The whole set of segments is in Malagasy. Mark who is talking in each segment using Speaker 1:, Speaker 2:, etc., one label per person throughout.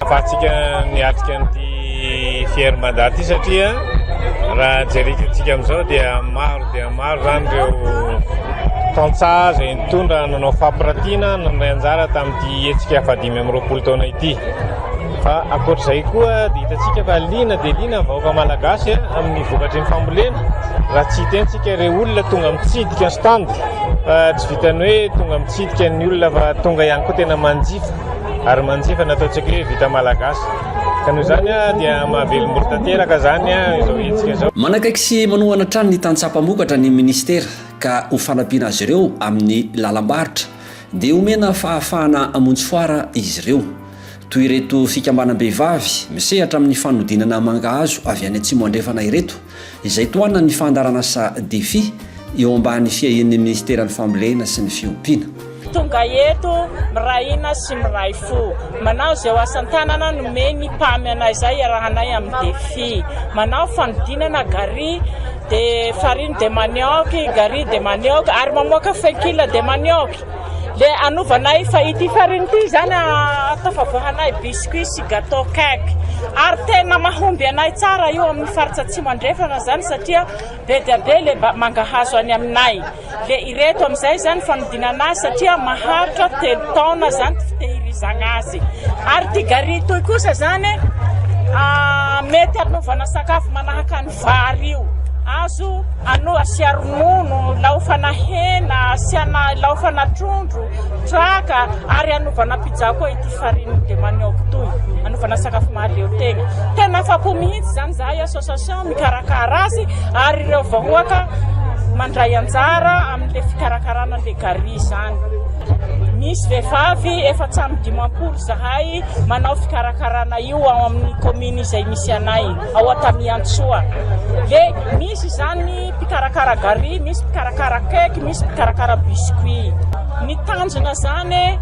Speaker 1: Ahafahantsika
Speaker 2: miatrika an'ity fier mandat ity satria raha jerentsika amin'izao dia maro dia maro izany ireo tantsaha izay nitondra nanao fampiratiana nandray anjara tamin'ity hetsika fahadimy amby roapolo taona ity. Fa ankoatr'izay koa dia hitantsika fa liana dia liana ny vahoaka malagasy amin'ny vokatry ny fambolena raha tsy hitentsika ireo olona tonga mitsidika stand fa tsy vitan'ny hoe tonga mitsidika ny olona fa tonga ihany koa tena manjifa. ary manjifa ny ataontsika hoe vita malagasy ka noho izany dia mahavelombolo tanteraka izany izao hetsika izao. Manakaiky sy manohana
Speaker 1: hatrany ny tantsaha mpamokatra ny minisitera ka ho fanampiana azy ireo amin'ny lalam-barotra dia omena fahafahana hamonjy foara izy ireo. Toy ireto fikambanam-behivavy misehatra amin'ny fanodinana mangahazo avy any Atsimo Andrefana ireto izay tohanan'ny fandaharana sa defi eo ambany fiahian'ny Ministeran'ny Fambolena sy ny Fiompiana. Tonga
Speaker 3: eto miray hina sy miray fo. Manao izay ho asan-tanana nomen'ny Pami anay izay hiarahanay amin'ny defi. Manao fanodinana gari de farine de manioc, gari de manioc ary mamoaka fenkila de manioc. Dia hanovanay fa ity farine ity izany ahatafavoahanay biscuits sy gateau cake. Ary tena mahomby anay tsara io amin'ny faritra Atsimo Andrefana izany satria be dia be ilay mangahazo any aminay. Dia ireto amin'izay izany fanodinana azy satria maharitra telo taona izany fitehirizagna azy. Ary ity gary ity kosa izany mety hanaovana sakafo manahaka ny. Vary io. Azo ano asia ronono, laofana hena, asiana laofana trondro, traka ary anaovana pizza koa ity farine de manioc ity. Anaovana sakafo mahaleo tegna. Tena afa-po mihitsy izany izahay association mikarakara azy ary ireo vahoaka mandray anjara amin'ilay fikarakarana an'ilay gari izany. Misy vehivavy efa tsy amin'ny dimampolo izahay manao fikarakarana io ao amin'ny commune izay misy anay. ao Antaniantsoa dia misy izany mpikarakara gari, misy mpikarakara cake, misy mpikarakara biscuit. Ny tanjona izany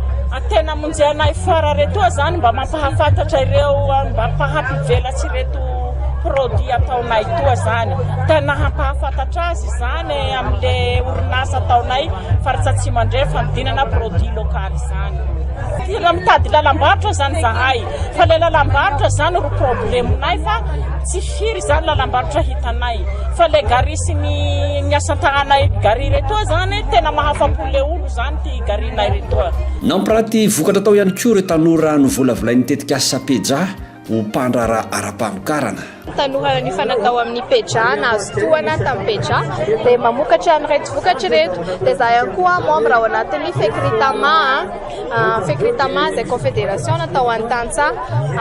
Speaker 3: tena monjena i foire retoa izany mba mampahafantatra ireo mba mpahampivelatsy ireto produit ataonay toa izany. Tena hampahafantatra azy izany amin'le orinasa ataonay Faritra Atsimo Andrefana, dinana produit local izany. Raha mitady lalam-barotra izany zahay Fa ilay lalam-barotra izany ro problemonay fa tsy firy izany lalam-barotra hitanay. Fa ilay gari sy ny ny asa an-tahanay gari ireto izany tena mahafa-po ilay olo izany ity garinay ireto. Nampiranty vokatra
Speaker 1: tao ihany koa ireo tanora novolavolain'ny tetikasa Peja ho mpandraharaha ara-pamokarana. Tanora
Speaker 4: nifanatao amin'ny Peja nahazo tohana tamin'ny Peja dia mamokatra an'ireto vokatra ireto. Dia izaho ihany koa membre ao anatin'ny Fecritama, Fecritama izay confederation natao ho an'ny tantsaha.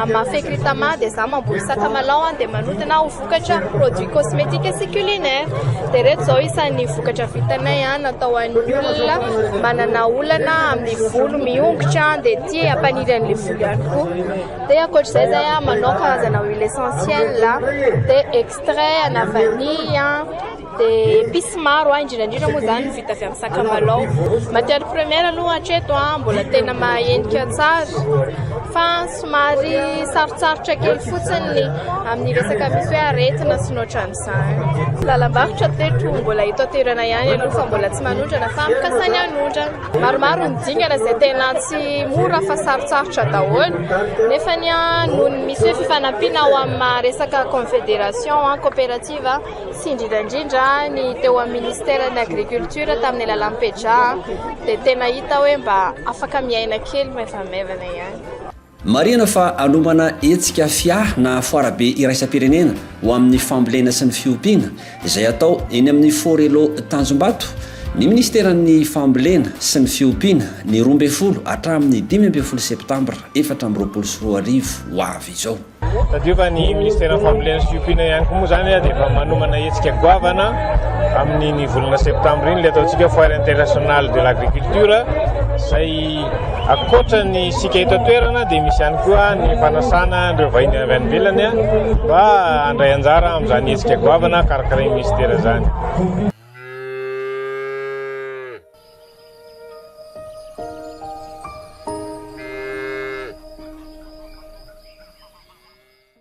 Speaker 4: Amin'ny maha Fecritama dia izaho mamboly sakamalao dia manodina ho vokatra produits cosmetiques sy culinaires. Dia ireto izao isan'ny vokatra vitanay natao ho an'ny olona manana olana amin'ny volo miongotra dia tia hampaniry an'ilay volo ihany koa. Dia ankoatr'izay izay aho manao karazana huile essentielle a, dia extrait ana vanille a, dia epices maro a, indrindra indrindra moa izany ny vita avy amin'ny sakamalao. Matière première aloha hatreto a mbola tena mahenika tsara fa somary sarotsarotra kely fotsiny ny amin'ny resaka misy hoe aretina sy ny ohatran'izany. Ny lalam-barotra teto mbola eto an-toerana ihany aloha fa mbola tsy manondrana fa mikasainy hanondrana. Maromaro ny dingana izay tena tsy mora fa sarotsarotra daholo nefa ny noho ny misy hoe fifanampiana ao amin'ny resaka confédération coopérative sy indrindra indrindra ny teo amin'ny ministère ny agriculture tamin'ny alalan'ny PEJA dia tena hita hoe mba afaka miaina kely maivamaivana ihany. Marihana fa
Speaker 1: hanomana hetsika fia na foarabe iraisam-pirenena ho amin'ny fambolena sy ny fiompiana, izay hatao eny amin'ny Forello Tanjombato, ny minisiteran'ny Fambolena sy ny fiompiana, ny roa ambin'ny folo hatramin'ny dimy ambin'ny folo septambra efatra amby roapolo sy roa arivo ho avy izao. Tadidio fa ny
Speaker 2: minisiteran'ny Fambolena sy fiompiana ihany koa moa izany dia efa manomana hetsika goavana amin'iny volana septambra iny ilay ataontsika Foire internationale de l'agriculture, izay. Ankoatra ny isika eto an-toerana dia misy ihany koa ny fanasana an'ireo vahiny avy any ivelany mba handray anjara amin'izany hetsika goavana karakarain'ny minisitera izany.